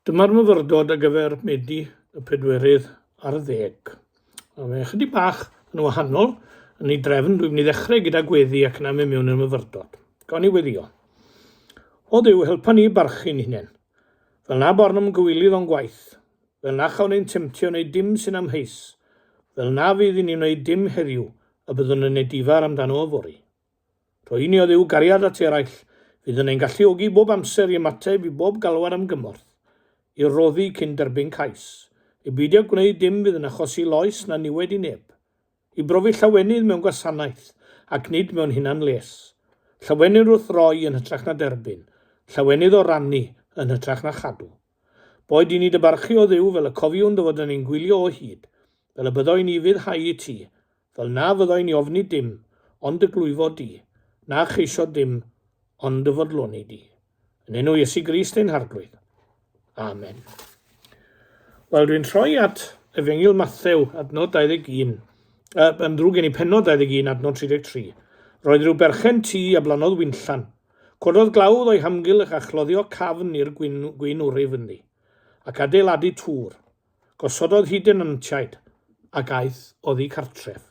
Dyma'r myfyrdod ar gyfer Medi y pedwerydd ar ddeg. A fe chydig bach yn wahanol yn ei drefn, dwi'n mynd i ddechrau gyda gweddi ac yna mynd mewn i'r myfyrdod. Gawn ni weddio. O Dduw, helpa ni barchu'n hunain. Fel na born am gywilydd o'n gwaith. Fel na chawn ein temtio wneud dim sy'n amheus. Fel na fydd i ni wneud dim heddiw, y byddwn yn edifar amdano yfory. Poeni oedd eu cariad at eraill fydd yn ein galluogi bob amser i ymateb i bob galwad am gymorth, i roddi cyn derbyn cais, i beidio gwneud dim fydd yn achosi loes na niwed i neb, i brofi llawenydd mewn gwasanaeth ac nid mewn hunan-les, llawenydd wrth roi yn hytrach na derbyn, llawenydd o rannu yn hytrach na chadw. Boed i ni dy barchu o Dduw fel y cofiwn dy fod yn ein gwylio o hyd, fel y byddo i ni fuddhau i ti, fel na fyddo i ni ofni dim ond dy glwyfo di, na cheisio dim ond dy fodloni di. Yn enw Iesu Grist ein Harglwydd. Amen. Wel, dwi'n troi at Efengil Mathew, adnod 21, uh, yn ddrwg gen i penod 21, adnod 33. Roedd rhyw berchen tu a blanodd winllan, Cododd glawdd o'i hamgylch a chloddio cafn i'r gwin wr ei fyny, ac adeiladu tŵr. Gosododd hi denantiaid, ac aeth oddi cartref.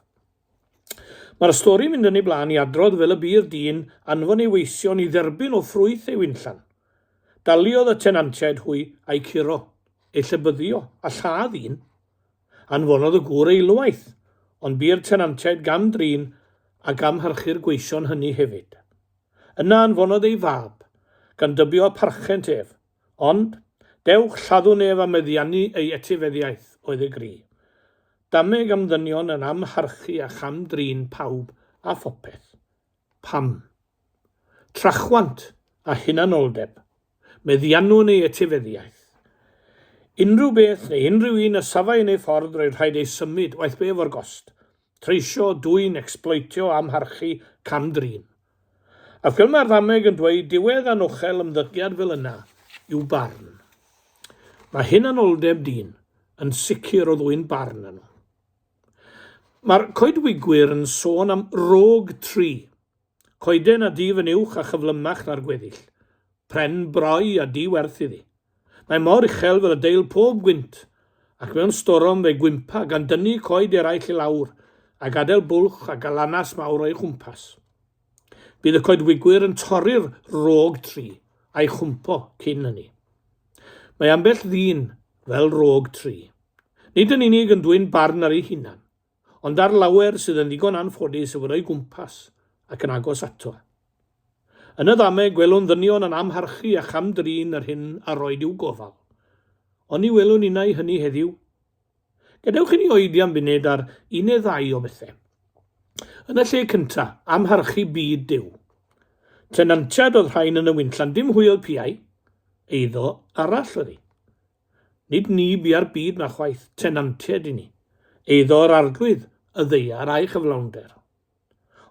Mae'r stori'n mynd yn ei blaen i adrodd fel y bydd dyn anfon ei weision i dderbyn o ffrwyth ei winllan. Daliodd y tenantiaid hwy a'u curo, eu llybyddio, a lladd un. Anfonodd y gŵr eilwaith, ond bu'r tenantiaid gam-drin a gamhyrchu'r gweision hynny hefyd. Yna anfonodd ei fab, gan dybio a pharchent ef. Ond, dewch, lladdwn ef a meddiannu ei etifeddiaeth, oedd y gri. Dameg am ddynion yn amharchu a cham-drin pawb a phopeth. Pam? Trachwant a hunanoldeb, meddiannu neu etifeddiaeth? Unrhyw beth neu unrhyw un a safai yn ei ffordd roedd rhaid ei symud, waeth be efo'r gost. Treisio, dwyn, ecsbloetio, amharchu, cam-drin. A fel mae'r ddameg yn dweud, diwedd anochel ymddygiad fel yna yw barn. Mae hunanoldeb dyn yn sicr o ddwyn barn arno. Mae'r coedwigwyr yn sôn am rôg tri, coeden a dyf yn uwch a chyflymach na'r gweddill, pren brau a di werth iddi. Mae mor uchel fel y deil pob gwynt, ac mewn storom fe gwympa gan dynnu coed eraill i lawr a gadael bwlch a galanas mawr o'i chwmpas. Bydd y coedwigwyr yn torri'r rôg tri a'i chwmpo cyn hynny. Mae ambell ddyn fel rôg tri. Nid yn unig yn dwyn barn ar ei hunan, ond ar lawer sydd yn ddigon anffodus i fod o'i gwmpas ac yn agos ato. Yn y ddameg, gwelwn ddynion yn amharchu a cham-drin yr hyn a roed i'w gofal. Oni welwn innau hynny heddiw? Gadewch i ni oedi am funud ar un neu ddau o bethau. Yn y lle cyntaf, amharchu byd Duw. Tenantiad oedd rhain yn y winllan, dim hwy oedd piau, eiddo arall oedd hi. Nid ni bia'r byd na chwaith, tenantiad i ni. Eiddo yr arglwydd, y ddeiar a'i chyflawnder.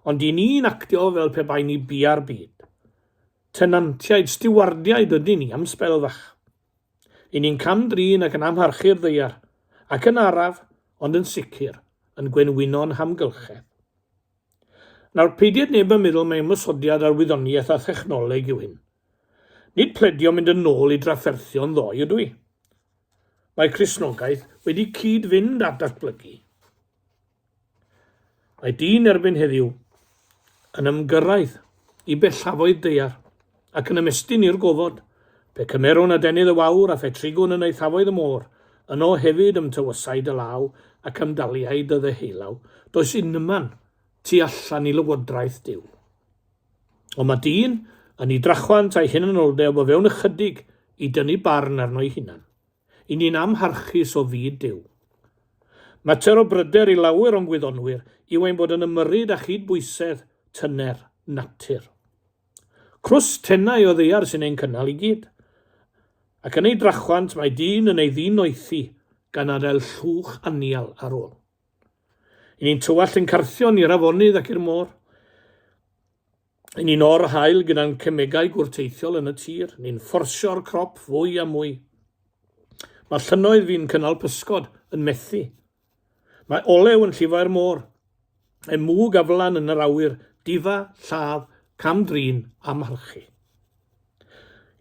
Ond i ni'n actio fel pe bai ni bia'r byd. Tenantiaid, stiwardiaid ydyn ni am sbel fach. I ni'n cam-drin ac yn amharchu'r ddaear, ac yn araf, ond yn sicr, yn gwenwyno'n hamgylchedd. Nawr, peidied neb yn meddwl mai ymosodiad ar wyddoniaeth a thechnoleg yw hyn. Nid pledio mynd yn ôl i drafferthion ddoe ydw i. Mae Cristnogaeth wedi cyd-fynd â datblygu. Mae dyn erbyn heddiw yn ymgyrraedd i bellafoedd daear ac yn ymestyn i'r gofod, pe cymerwn adenydd y wawr a phetrigwn yn eithafoedd y môr, yno hefyd ymtywysai dy law ac ymdaliai dy ddeheulaw, does unman tu allan i lywodraeth Duw. Ond mae dyn yn ei drachwant a'i hunanoldeb o fewn ychydig i dynnu barn arno'i hunan. I ni'n amharchus o fyd Duw. Mater o bryder i lawer o'n gwyddonwyr yw ein bod yn ymyrryd â chyd-bwysedd tyner natur. Crws tenau o ddaear sy'n ein cynnal i gyd. Ac yn ei drachwant mae dyn yn ei ddinoethi gan adael llwch anial ar ôl. I ni'n tywallt ein carthion i'r afonydd ac i'r môr. Yn un o'r haul gyda'n cemegau gwrteithiol yn y tir, ni'n fforsio'r crop fwy a mwy. Mae llynnoedd fi'n cynnal pysgod yn methu. Mae olew yn llifo i'r môr. Mae mwg a flan yn yr awyr, difa, lladd, cam-drin a marchu.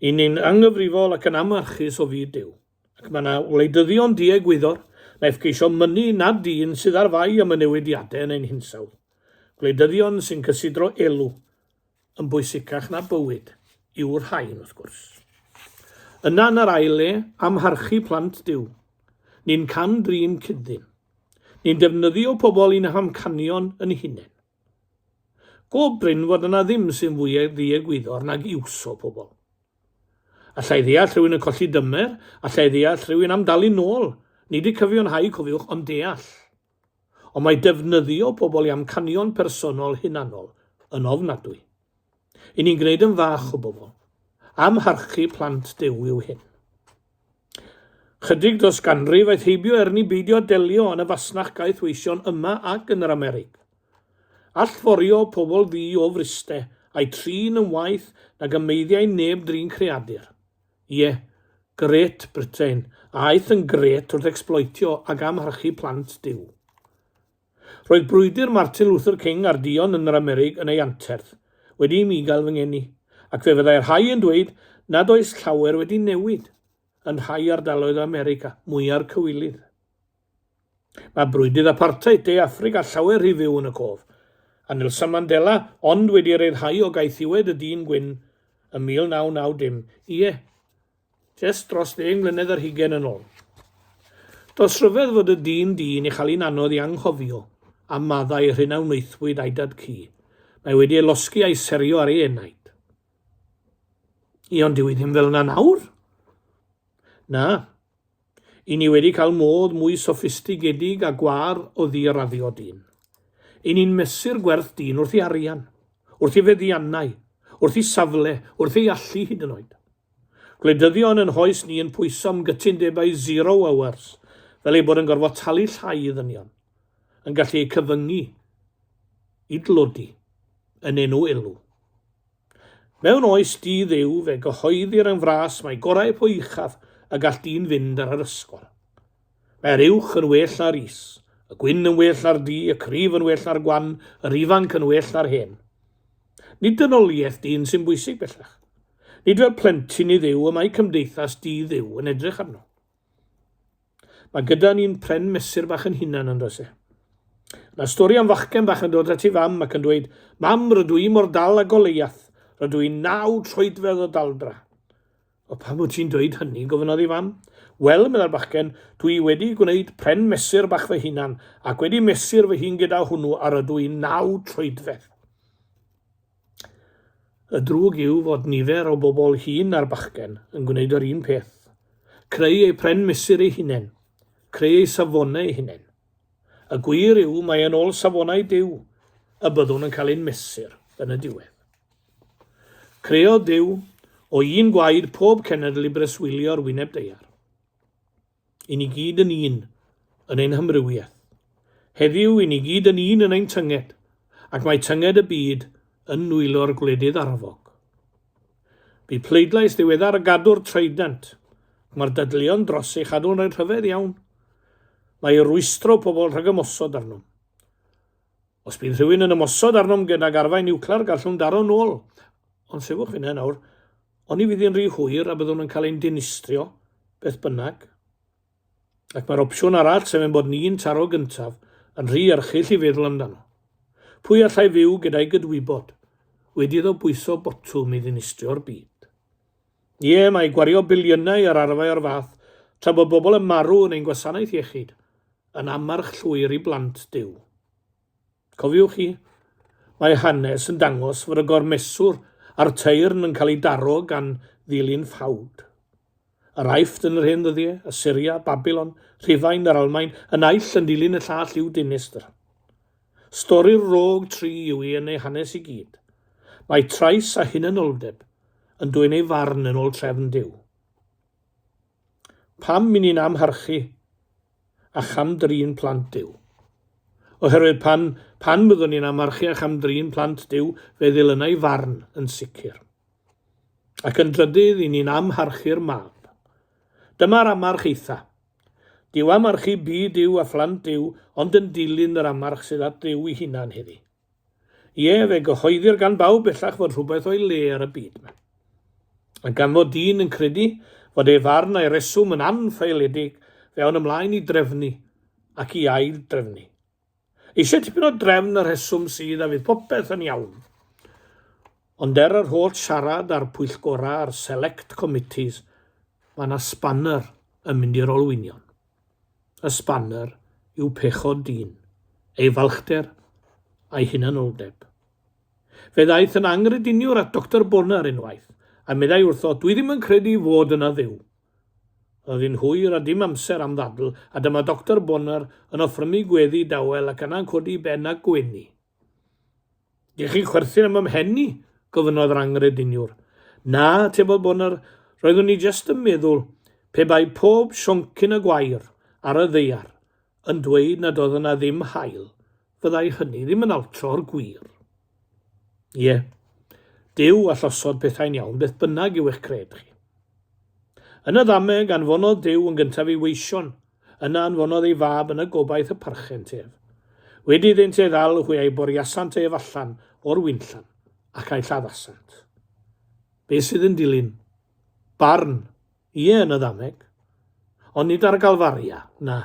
I ni'n anghyfrifol ac yn amharchus o fyd Duw. Ac mae yna wleidyddion diegwyddor naiff geisio mynnu nad dyn sydd ar fai am y newidiadau yn ein hinsawdd, gwleidyddion sy'n cysidro elw yn bwysicach na bywyd, yw'r rhain, wrth gwrs. Yna yn yr ail le, amharchu plant Duw. Ni'n cam-drin cyd-ddyn. Ni'n defnyddio pobl i'n hamcanion yn hunain. Go brin fod yna ddim sy'n fwy ddiegwyddor nag iwso pobl. Alla i ddeall rhywun yn colli dymer, alla i ddeall rhywun am dalu nôl, nid y cyfiawnhau cofiwch ond deall. Ond mae defnyddio pobl i amcanion personol hunanol yn ofnadwy. I ni'n gwneud yn fach o bobl. Amharchu plant Duw yw hyn. Chydig dros ganrif aeth heibio erni beidio delio yn y fasnach gaeth weision yma ac yn yr Amerig. Allforio pobl fi o friste a'i trin yn waeth nag y meiddiau neb drin creadur. Ie, Great Britain aeth yn gret wrth ecsbloetio ac amharchu plant Duw. Roedd brwydr Martin Luther King ar duon yn yr Amerig yn ei anterth, wedi i mi gael fy ngeni, ac fe fyddai rhai yn dweud nad oes llawer wedi newid yn rhai ardaloedd o America, mwya'r cywilydd. Mae brwydydd apartheid De Affrica llawer rhy fyw yn y cof, a Nelson Mandela ond wedi ryddhau o gaethiwed y dyn gwyn ym 1990, ie, Jest dros ddeng mlynedd ar hugain yn ol. Does rhyfedd fod y dyn dyn i chael un anodd i anghofio am maddau yr hyn a wnaethpwyd a'i dad cu. Mae wedi ei losgi a'i serio ar ei enaid. Ie, ond dyw hi ddim fel yna nawr. Na. I ni wedi cael modd mwy soffistigedig a gwâr o ddiraddio dyn. I ni'n mesur gwerth dyn wrth ei arian, wrth ei feddiannau, wrth ei safle, wrth ei allu hyd yn oed. Gwleidyddion yn hoes ni yn pwyso am gytundebau zero hours, fel ei bod yn gorfod talu llai i ddynion, yn gallu eu cyfyngu i dlodi yn enw elw. Mewn oes di Dduw fe gyhoeddir yn fras mai gorau po uchaf y gall dyn fynd ar yr ysgol. Mae'r uwch yn well na'r is, y gwyn yn well na'r du, y cryf yn well na'r gwan, yr ifanc yn well na'r hen. Nid dynoliaeth dyn sy'n bwysig bellach. Nid fel plentyn i Dduw y mae cymdeithas di Dduw yn edrych arno. Mae gyda ni'n pren mesur bach yn hunan yn does e? Mae stori am fachgen bach yn dod at ei fam ac yn dweud, Mam, rydw i mor dal a Goleiath, rydw i'n naw troedfedd o daldra. O pam wyt ti'n dweud hynny, gofynodd ei fam. Wel, meddai'r bachgen, dwi wedi gwneud pren mesur bach fy hunan ac wedi mesur fy hun gyda hwnnw a rydw i'n naw troedfedd. Y drwg yw fod nifer o bobl hŷn a'r bachgen yn gwneud yr un peth, creu eu pren mesur eu hunain, creu eu safonau eu hunain. Y gwir yw mae yn ôl safonau Duw y byddwn yn cael ein mesur yn y diwedd. Creodd Duw o un gwaed pob cenedl i breswylio'r wyneb deiar. I ni gyd yn un yn ein hamrywiaeth. Heddiw, i ni gyd yn un yn ein tynged, ac mae tynged y byd yn nwylo'r gwledydd arfog. Bu pleidlais ddiweddar y gadwr Trident, ac mae'r dadleuon dros ei chadw'n rhaid rhyfedd iawn. Mae rwystro pobl rhag ymosod arnom. Os bydd rhywun yn ymosod arnom gydag arfau niwclear gallwn daro'n ôl. Ond sefwch fyna nawr. Oni fydd hi'n rhy hwyr a byddwn yn cael ein dinistrio, beth bynnag. Ac mae'r opsiwn arall, sef ein bod ni'n taro gyntaf, yn rhy erchyll i feddwl amdano. Pwy allai fyw gyda'i gydwybod? Wedi iddo bwyso botwm i ddinistrio'r byd. Ie, mae gwario biliynau ar arfau o'r fath tra bod bobl yn marw yn ein gwasanaeth iechyd yn ammarch llwyr i blant Duw. Cofiwch chi, mae hanes yn dangos fod y gormeswr a'r teyrn yn cael ei daro gan ddilyn ffawd. Yr Aifft yn yr hen ddyddiau, Assyria, Babylon, Rhufain, yr Almaen, y naill yn dilyn y llall i'w dinistr. Stori'r rôg tri yw hi yn ei hanes i gyd. Mae trais a hunanoldeb yn dwyn ei farn yn ôl trefn Duw. Pam i ni'n amharchu a cham-drin plant Duw? Oherwydd pan, pan fyddwn ni'n amharchu a cham-drin plant Duw, fe ddilynai farn yn sicr. Ac yn drydydd, i ni'n amharchu'r mab. Dyma'r amarch eitha. Duw am archu byd Duw a phlant Duw ond yn dilyn yr amarch sydd at Dduw ei hunan heddi. Ie, fe gyhoeddir gan bawb bellach fod rhywbeth o'i le ar y byd yma. Ac gan fod dyn yn credu fod ei farn a'i reswm yn anffaeledig, fe awn ymlaen i drefnu ac i ail-drefnu. Eisiau tipyn o drefn y rheswm sydd a fydd popeth yn iawn. Ond er yr holl siarad a'r pwyllgorau a'r select committees, mae yna spanner yn mynd i'r olwynion. Y spanner yw pechod dyn, ei falchder a'i hunanoldeb. Fe ddaeth yn angrydiniwr at Doctor Bonar unwaith, a meddai wrtho, dwi ddim yn credu fod yna dduw. Oedd hi'n hwyr a dim amser am ddadl, a dyma Doctor Bonner yn offrymu gweddi dawel ac yna'n codi ben a gwenu. Dych chi'n chwerthin am 'y mhen i? gofynnodd yr anghrediniwr. Na, atebodd Bonner, roeddwn i jest yn meddwl pe bai pob sioncyn y gwair ar y ddaear yn dweud nad oedd yna ddim haul, fyddai hynny ddim yn altro'r gwir. Ie, Duw allosodd pethau'n iawn beth bynnag yw eich cred chi. Yn y ddameg, anfonodd Duw yn gyntaf i weision, yna anfonodd ei fab yn y gobaith y parchent ef. Wedi iddynt ei ddal, hwy a'i boriasant ef allan o'r wynllan, ac a'i lladdasant. Be sydd yn dilyn? Barn, ie yn y ddameg, ond nid ar y galfaria, na,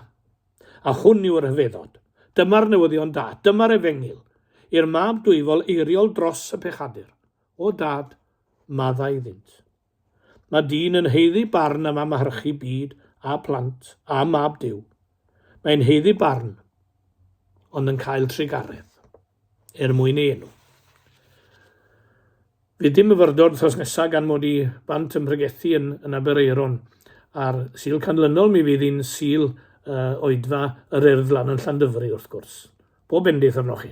A hwn yw'r rhyfeddod. Dyma'r newyddion da. Dyma'r efengyl. I'r mab dwyfol eiriol dros y pechadur. O Dad, madda iddynt. Mae dyn yn heiddi barn am amharchu byd a plant a mab Duw. Mae'n heiddi barn, ond yn cael trugaredd. er mwyn ei enw. Bydd dim myfyrdod wythnos nesaf gan mod i bant yn pregethu yn, yn Aberaeron. A'r Sul Canlynol mi fydd hi'n Sul uh, oedfa yr Urdd lan yn Llandyfri wrth gwrs. Pob bendith arnoch chi.